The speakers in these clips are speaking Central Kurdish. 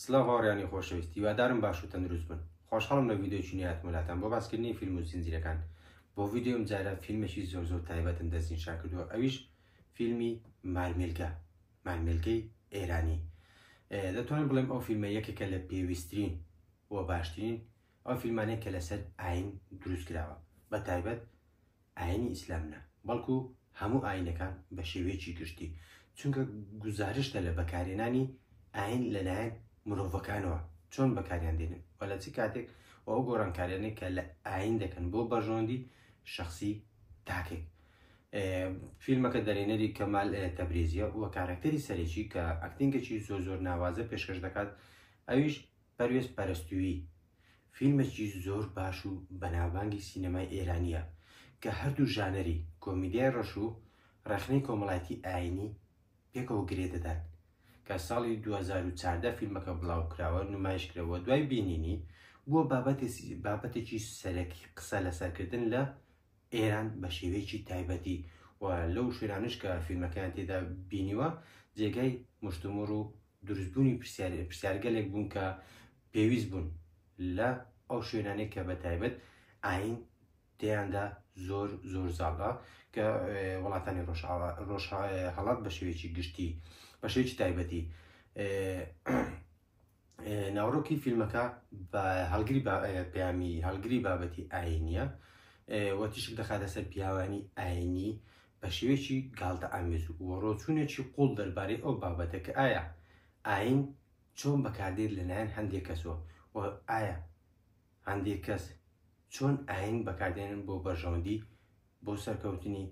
سلاو هاوریانی خۆشەویست هیوادارم باش و تەندروست بن خۆشحاڵم لە ڤیدیۆکی نوێ هاتمە لاتان بۆ باسکردنی فیلم و زنجیرەکان بۆ ڤیدیۆ ئەم جارە فیلمێکی زۆر زۆر تایبەتم دەستنیشان کردووە ئەویش فیلمی مارمێلگە مارمێلگەی ئێرانی دەتوانم بڵێم ئەو فیلمە یەکێکە لە پێویستترین و باشترین ئەو فیلمانەیە کە لەسەر ئاین دروست کراوە بە تایبەت ئاینی ئیسلام نا بەڵکو هەموو ئاینەکان بە شێوەیەکی گشتی چونکە گوزارشتە لە بەکارهێنانی ئاین لە لایەن مرۆڤەکانەوە چۆن بەکاریان دێنن و لە چ کاتێک و ئەو گۆڕانکاریانەی کە لە ئاین دەکەن بۆ بەرژەوەندی شخصی تاکێک فیلمەکە دەرێنەری کەمال تەبرێزیە و کارەکتەری سەرێکی کە ئەکتینگەکی زۆر زۆر ناوازە پێشکەش دەکات ئەویش پەروێز پەرستوویی فیلمێکی زۆر باش و بەناوبانگی سینەمای ئێرانییە کە هەردوو ژانەری کۆمیدیای ڕەش و ڕەخنەی کۆمەڵایەتی ئایینی پێکەوە گرێ دەدات کە ساڵی دوو هەزار و چواردە فیلمەکە بڵاوکراوە نمایشکرا و دوای بینینی بووە بابەتێکی سەرەکی قسە لەسەرکردن لە ئێران بە شێوەیەکی تایبەتی و لەو شوێنانش کە فیلمەکەیان تێدا بینیوە جێگای مشتومڕ و دروستبوونی پرسیارگەلێک بوون کە پێویست بوون لە ئەو شوێنانێک کە بە تایبەت ئاین تێیاندا زۆر زۆر زاڵە کە وڵاتانی ڕۆژاوا ڕۆژ هەڵات بە شێوێکی گشتی بە شێوێکی تایبەتی ناوڕۆکی فیلمەکە بە هەڵگری پەیامی هەڵگری بابەتی ئاینیە و تیشک دەخاتە سەر پیاوانی ئاینی بە شێوێکی گالتە ئامێز و وەڕۆچوونێکی قوڵ دەربارەی ئەو بابەتە کە ئایا ئاین چۆن بەکاردێت لەلایەن هەندێک کەسەوە و ئایا هەندێک کەس چۆن ئاین بەکاردێنن بۆ بەرژەوەندی بۆ سەرکەوتنی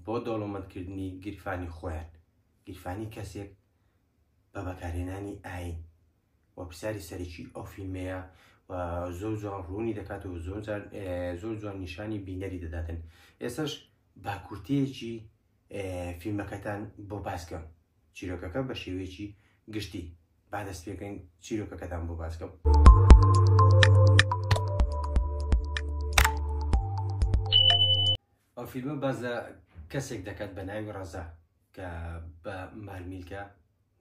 بۆ دەوڵەمەندکردنی گیرفانی خۆیان گیرفانی کەسێک بە بەکارهێنانی ئاین و پرسیاری سەرەکی ئەو فیلمەیە و زۆر جوان ڕوونی دەکات و زۆر زۆر جوان نیشانی بینەری دەداتن ئێسش باکوورتەیەکی فیلمەکەتان بۆ باسکەم چیرۆکەکە بە شێوەیەکی گشتی با دەست پێکەین چیرۆکەکەتان بۆ باسکەم. ئەو فیلمە باس لە کەسێک دەکات بە ناوی ڕەزا کە بە مارمیلکە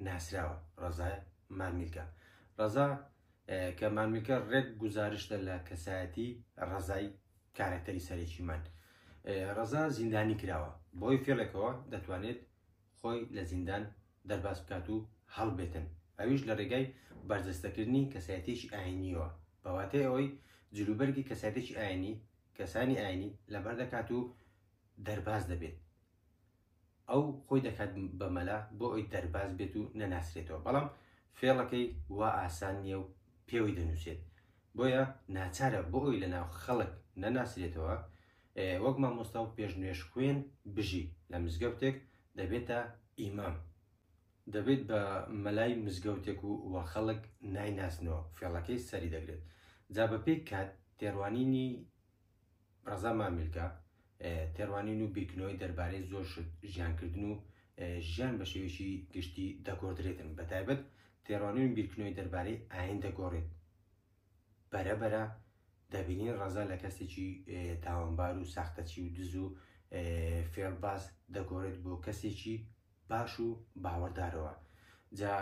ناسراوە ڕەزای مارمیلکە ڕەزا کە مارمیلکە ڕێک گزارشتە لە کەسایەتی ڕەزای کارەکتەری سەرێکیمان ڕەزا زیندانی کراوە بۆی فێڵێکەوە دەتوانێت خۆی لە زیندان دەرباز بکات و هەڵبێتن ئەویش لە ڕێگای بەرجەستەکردنی کەسایەتێکی ئاینیەوە بەواتای ئەوەی جلوبەرگی کەسایەتێکی ئاینی کەسانی ئاینی لەبەر دەکات و دەرباز دەبێت ئەو خۆی دەکات بە مەلا بۆ ئەوی دەرباز بێت و نەناسرێتەوە بەڵام فێڵەکەی وا ئاسان نییە و پێوەی دەنووسێت بۆیە ناچارە بۆ ئەوی لە ناو خەڵک نەناسرێتەوە وەک مامۆستا و پێش نوێش خوێن بژی لە مزگەوتێک دەبێتە ئیمام دەبێت بە مەلای مزگەوتێک و وا خەڵک نایناسنەوە فێڵەکەی سەری دەگرێت جا بە پێی کات تێڕوانینی ڕەزا مامیلکە تێڕوانین و بیرکردنەوەی دەربارەی زۆر شت ژیانکردن و ژیان بە شێوەیەکی گشتی دەگۆردرێتن بە تایبەت تێڕوانین و بیرکردنەوەی دەربارەی ئاین دەگۆڕێت بەرەبەرە دەبینین ڕەزا لە کەسێکی تاوانبار و ساختەچی و دز و فێڵباز دەگۆڕێت بۆ کەسێکی باش و باوەڕدارەوە جا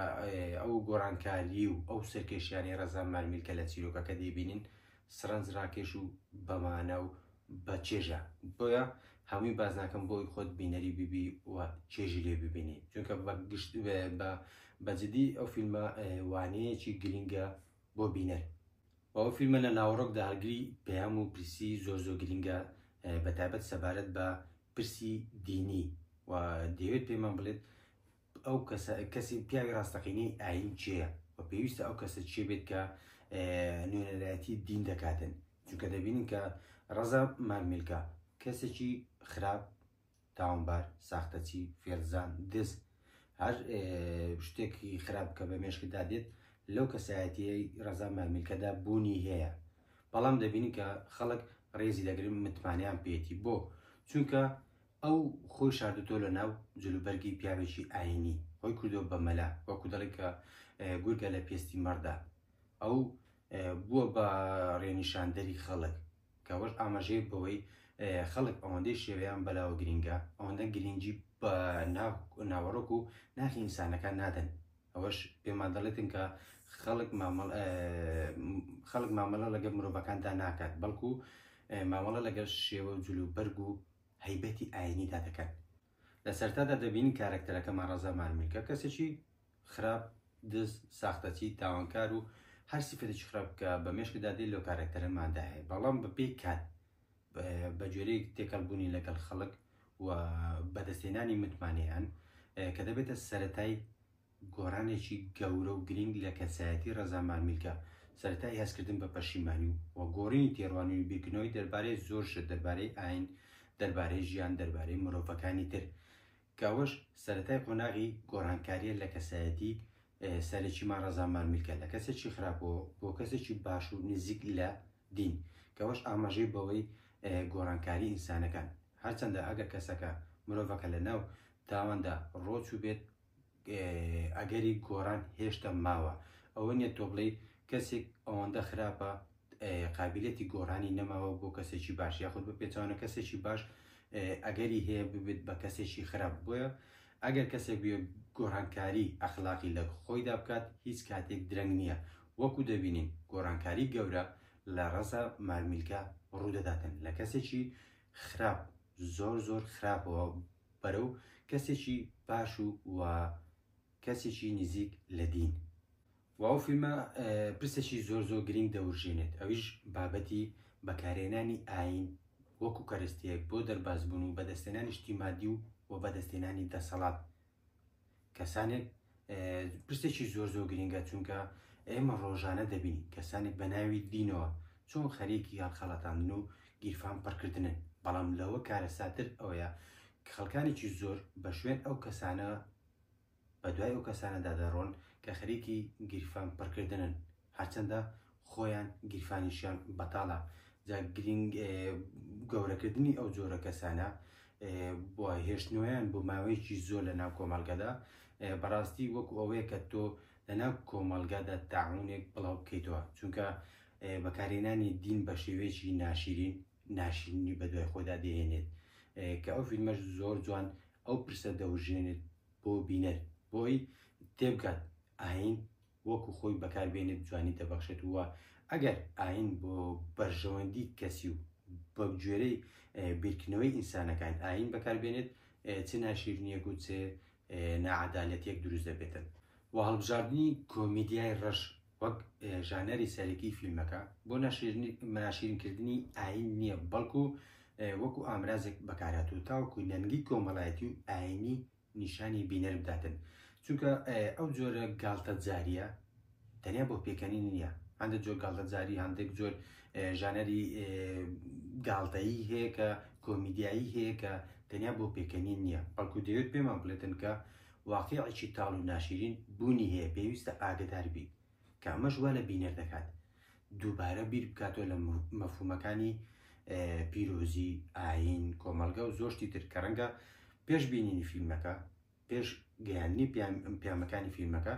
ئەو گۆڕانکاری و ئەو سەرکێشیانی ڕەزا مارمیل کە لە چیرۆکەکە دەیبینین سرنج ڕاکێش و بەمانە و بە چێژە بۆیە هەمووی بازناکەم بۆی خۆت بینەری بیبی و چێژی لێ ببینی چونکە بە گشت بە بەجددی ئەو فیلمە وانەیەکی گرنگە بۆ بینەر و ئەو فیلمە لە ناوەڕۆکدا هەڵگری پەیام و پرسی زۆر زۆر گرینگە بە تایبەت سەبارەت بە پرسی دینی و دەیەوێت پێمان بڵێت ئەو کەسە کەسی پیاوی ڕاستەقینەی ئاین چێە و پێویستە ئەو کەسە چێ بێت کە نوێنەرایەتی دین دەکاتن چونکە دەبینین کە ڕەزا مارمیلکە کەسێکی خراپ تاوانبار، ساختەچی، فێڵزان، دز، هەر شتێکی خراپ کە بە مێشکدا دێت لەو کەسایەتیەی ڕەزا مارمیلکەدا بوونی هەیە بەڵام دەبینی کە خەڵک ڕێزی دەگرن متمانیان پێێتی بۆ چونکە ئەو خۆی شاردوتۆ لە ناو جلوبەرگی پیاوێکی ئاینی خۆی کردو بە مەلا وەکو دەڵی کە گورگە لە پێستی مەڕدا ئەو بووە بە ڕێنیشاندەری خەڵک کە ئەوەش ئاماژەیە بەوەی خەڵک ئەوەندەی شێوەیان بەلاوە گرینگە ئەوەندە گرینگی بە ناوەڕۆک و ناخی ئینسانەکان نادەن ئەوەش پێمان دەڵێتن کە خەڵک خەڵک مامەڵە لەگەڵ مرۆڤەکاندا ناکات بەڵکو مامەڵە لەگەڵ شێوە جلو بەرگ و هەیبەتی ئاینیدا دەکات لە سەرتادا دەبینین کارەکتەرەکەمان ڕەزا مارمیلکە کەسێکی خراپ، دز، ساختەچی، تاوانکار و هەر سیفەتێکی خراپ کە بە مێشکدا دێت لەو کارەکتەرەماندا هەیە بەڵام بە پێی کات بە جۆرەیەک تێکەڵ بوونی لەگەڵ خەڵک و بەدەستهێنانی متمانەیان کە دەبێتە سەرەتای گۆڕانێکی گەورە و گرینگ لە کەسایەتی ڕەزا مارمیلکە، سەرەتای هەستکردن بە پەشیمانی و گۆڕینی تێڕوانین و بیرکردنەوەی دەربارەی زۆر شت، دەربارەی ئاین، دەربارەی ژیان، دەربارەی مرۆڤەکانی تر. کە ئەوەش سەرەتای قۆناغی گۆڕانکارییە لە کەسایەتی سەرەکیمان ڕەزا مارمیلکە، لە کەسێکی خراپەوە بۆ کەسێکی باش و نزیک لە دین. کە ئەوەش ئاماژەی بەوەی گۆڕانکاری ئینسانەکان، هەرچەندە ئەگەر کەسەکە، مرۆڤەکە لەناو تاواندا ڕۆچووبێت، ئەگەری گۆڕان هێشتا ماوە ئەوە نیە تۆ بڵێی کەسێک ئەوەندە خراپە قابلەتی گۆڕانی نەماوە بۆ کەسێکی باش یاخود بە پێچوانە کەسێکی باش ئەگەری هەیە ببێت بە کەسێکی خراپ بۆیە ئەگەر کەسێک بێ گۆڕانکاری ئەخلاقی لە خۆیدا بکات هیچ کاتێک درەنگ نییە وەکو دەبینین گۆڕانکاری گەورە لە ڕەزا مارمیلکە ڕوودەداتن لە کەسێکی خراپ زۆر زۆر خراپەوە بەرەو کەسێکی باش و و کەسێکی نزیک لە دین و ئەو فیلمە پرسێکی زۆر زۆر گرنگ دەورژێنێت ئەویش بابەتی بەکارێنانی ئاین وەکو کەرستەیەک بۆ دەربازبوون و بەدەستێنانی شتی مادی و و بەدەستێنانی دەسەڵات کەسانێک پرسێکی زۆر زۆر گرنگە چونکە ئێمە ڕۆژانە دەبین کەسانێک بە ناوی دینەوە چۆن خەرێکی یان خەڵەتاندن و گیرفان پڕکردنن بەڵام لەوە کارە ساتر ئەوەیە خەڵکانێکی زۆر بە شوێن ئەو کەسانە بە دوای ئەو کەسانەدا دەڕۆن کە خەرێکی گیرفان پڕکردنن هەرچەندە خۆیان گیرفانیشیان بەتاڵە جا گرینگ گەورەکردنی ئەو جۆرە کەسانە بۆ هێشتنەوەیان بۆ ماوەیەکی زۆر لە ناو کۆمەڵگەدا بەڕاستی وەکو ئەوەیە کە تۆ لە ناو کۆمەڵگەدا تاعونێک بڵاو بکەیتەوە چونکە بەکارێنانی دین بە شێوەیەکی ناشیرین ناشیرنی بە دوای خۆدا دەهێنێت کە ئەو فیلمەش زۆر جوان ئەو پرسە دەوژێنێت بۆ بینەر بۆی تێبگات ئاین وەکو خۆی بەکار بێنێت جوانی دەبەخشێت و ئەگەر ئاین بۆ بەرژەوەندی کەسی و بە گوێرەی بیرکردنەوەی ئینسانەکان ئاین بەکار بێنێت چ ناشیرنیەک و چێ ناعەدالەتیەک دروست دەبێتن و هەڵبژاردنی کۆمیدیای ڕەش وەک ژانەری سەرەکی فیلمەکە بۆ ناشیرنکردنی ئاین نییە بەڵکو وەکو ئامرازێک بەکاراتوو تاوەکو نەنگی کۆمەڵایەتی و ئاینی نیشانی بینەر بداتن چونکە ئەو جۆرە گاڵتەجاریە تەنیا بۆ پێکەنین نییە هەندێک جۆر گاڵتەجاری هەندێک جۆر ژانەری گاڵتەیی هەیە کە کۆمیدیایی هەیە کە تەنیا بۆ پێکەنین نییە بەڵکو دەوێت پێمان بڵێتن کە واقعی تاڵ و ناشرین بوونی هەیە پێویستە ئاگدار بیت کە ئەمەش وا لە بینەر دەکات دووبارە بیر بکاتەوە لە مەفهومەکانی پیرۆزی ئاین کۆمەلگا و زۆشتی تر کە ڕەنگە پێش بینینی فیلمەکە پێش گەیاننی پیامەکانی فیلمەکە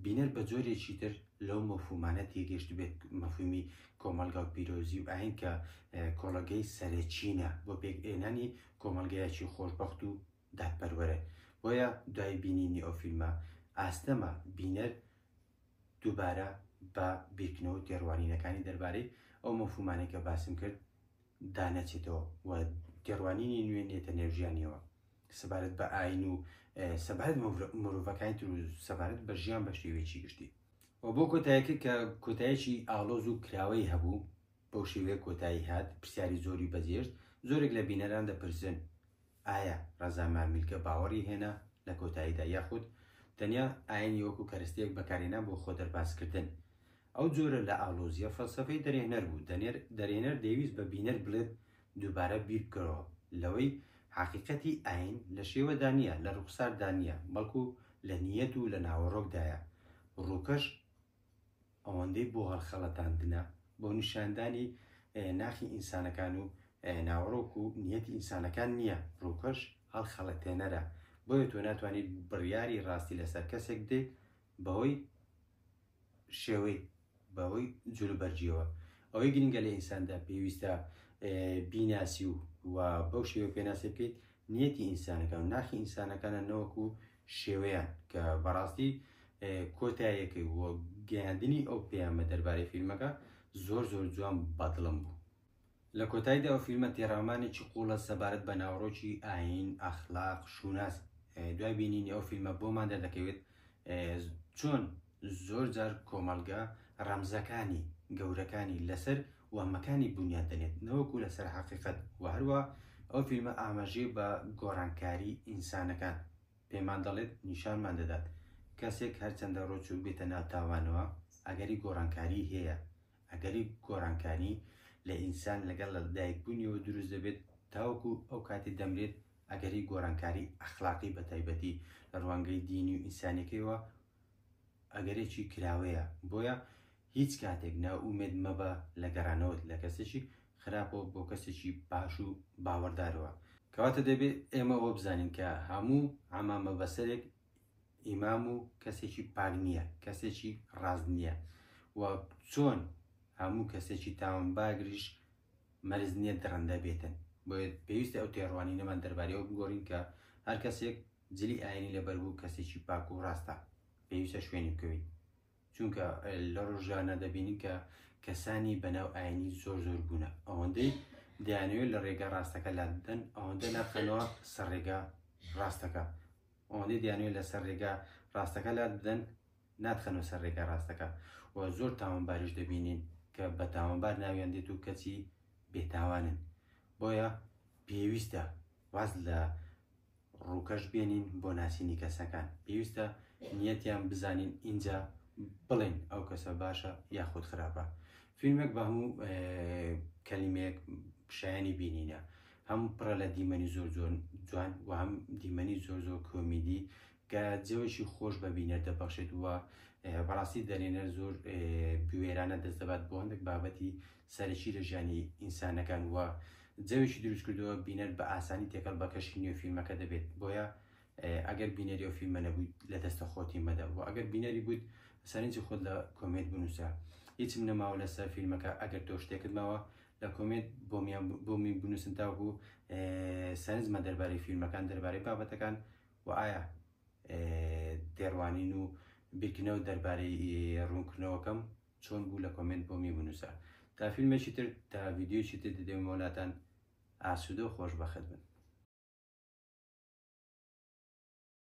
بینەر بە جۆرێکی تر لەو مەفومانە تێگەشت بێت مەفومی کۆمەلگا و پیرۆزی و ئاین کە کۆڵەگەی سەرەکیینە بۆ پێکئێنانی کۆمەلگایەکی خۆشببخت و دادپەروەرن بۆیە دوای بینینی ئەو فیلمە ئاستەمە بینەر دووبارە بە بیرکردنەوە و تێڕوانینەکانی دەربارەی ئەو مەفهومانەی کە باسم کرد دانەچێتەوە و تێڕوانینی نوێ نێتە نێو ژیانیەوە سەبارەت بە ئاین و سەبارەت مرۆڤەکانی تر و سەبارەت بە ژیان بە شێوەیەکی گشتی و بۆ کۆتایەکە کە کۆتایەکی ئاڵۆز و کراوەی هەبوو بەو شێوەیە کۆتایی هات، پرسیاری زۆری بەجێشت، زۆرێک لە بینەران دەپرسن، ئایا ڕەزا ماملکە باوەڕی هێنا لە کۆتاییدا یاخود تەنیا ئایینی وەکو کەرەستەیەک بەکارهێنا بۆ خۆ دەربازکردن؟ ئەو جۆرە لە ئاڵۆزییە فەلسەفەی دەرێهنەر بوو، دەرێنەر دەیویست بە بینەر بڵێت دووبارە بیربکەرەوە لەوەی حەقیقەتی ئایین لە شێوەدا نییە، لە ڕووخساردا نییە، بەڵکو لە نییەت و لە ناوەڕۆکدایە، ڕووکەش، ئەوەندەی بۆ هەڵخەڵەتاندنە بۆ نیشاندانی ناخی ئینسانەکان و ناوەڕۆک و نیەتی ئینسانەکان نیە، ڕووکەش هەڵخەڵەتێنەرە، بۆیە تۆ ناتوانیت بڕیاری ڕاستی لەسەر کەسێک بدەیت بەهۆی شێوەی، بەهۆی جلوبەرگیەوە، ئەوەی گرنگە لە ئینساندا پێویستە بیناسی و بەو شێوەیە پێناسەی بکەیت نیەتی ئینسانەکان و ناخی ئینسانەکانە نەوەکو شێوەیان کە بەڕاستی کۆتایەکەی و گەیاندنی ئەو پەیامە دەربارەی فیلمەکە زۆر زۆر جوان بە دڵم بوو لە کۆتایدا ئەو فیلمە تێڕامانێکی قوڵە سەبارەت بە ناوڕۆکی ئاین ئەخلاق شوناس دوای بینینی ئەو فیلمە بۆمان دەردەکەوێت چۆن زۆر جار کۆمەڵگە ڕەمزەکانی گەورەکانی لەسەر وەهمەکانی بونیاد دەنێت نەوەکو لەسەر حەقیقەت، وە هەروا ئەو فیلمە ئاماژەی بە گۆڕانکاری ئینسانەکان پێمان دەڵێت نیشانمان دەدات کەسێک هەرچەندە رۆچوو بێتە ناو تاوانەوە ئەگەری گۆڕانکاری هەیە ئەگەری گۆڕانکاری لە ئینسان لەگەڵ لە دایک بونیەوە دروست دەبێت تاوەکو ئەو کاتی دەمرێت ئەگەری گۆڕانکاری ئەخلاقی بە تایبەتی لە روانگەی دینی و ئینسانیەکەیەوە ئەگەرێکی کراوەیە بۆیە هیچ کاتێک نائومێد مەبە لە گەڕانەوەت لە کەسێکی خراپەوە بۆ کەسێکی باش و باوەڕدارەوە. کەواتە دەبێت ئێمە ئەوە بزانین کە هەموو عەمامە بەسەرێک ئیمام و کەسێکی پاک نییە، کەسێکی ڕاست نییە و چۆن هەموو کەسێکی تاوانباگریش مەرج نییە دڕندە بێتن. بۆیە پێویستە ئەو تێڕوانینەمان دەربارەی ئەوە بگۆڕین کە هەر کەسێک جلی ئایینی لەبەر بوو کەسێکی پاک و ڕاستە، پێویستە شوێنی بکەوین. چونکە لە ڕۆژانە دەبینین کە کەسانی بەناو ئاینی زۆر زۆر بوونە ئەوەندەی دەیانەوێت لە ڕێگە ڕاستەکە لا بدەن ئەوەندە ناخەنەوە سەر ڕێگە ڕاستەکە ئەوەندەی دەیانوێت لەسەر ڕێگە ڕاستەکە لا بدەن ناتخەنەوە سەر ڕێگە ڕاستەکە و زۆر تاوانباریش دەبینین کە بە تاوانبار ناویان دێت و کەچی بێتاوانن بۆیە پێویستە واز لە ڕووکەش بێنین بۆ ناسینی کەسەکان پێویستە نیەتیان بزانین ئینجا بڵێن ئەو کەسە باشە یاخود خراپە فیلمێک بە هەموو کەلیمەیەک شایانی بینینە هەم پڕە لە دیمەنی زۆر زۆر جوان و هەم دیمەنی زۆر زۆر کۆمیدی کە جەوێکی خۆش بە بینەر دەبەخشێت وە بەڕاستی دەرێنەر زۆر بوێرانە دەست دەبات بۆ هەندێک بابەتی سەرەکی لە ژیانی ئینسانەکان و جەوێکی دروست کردووە بینەر بە ئاسانی تێکەڵ بە کەشی نوێ فیلمەکە دەبێت بۆیە ئەگەر بینەری ئەو فیلمە نەبوویت لە دەستە خۆتی مەدە و ئەگەر بینەری بوویت سەرنجی خۆت لە کۆمێنت بنووسە هیچم نەماوە لەسەر فیلمەکە ئەگەر تۆ شتێکت ماوە لە کۆمێنت بۆمی بنووسن تاوەکو سەرنجمە دەربارەی فیلمەکان دەربارەی بابەتەکان و ئایا تێڕوانین و بیرکردنەوە دەربارەی ڕوونکردنەوەکەم چۆن بوو لە کۆمێنت بۆمی بنووسە تا فیلمێکی تر تا ڤیدیۆیەکی تر دەدەمەوە لاتان ئاسوودە و خۆشبەخت بن.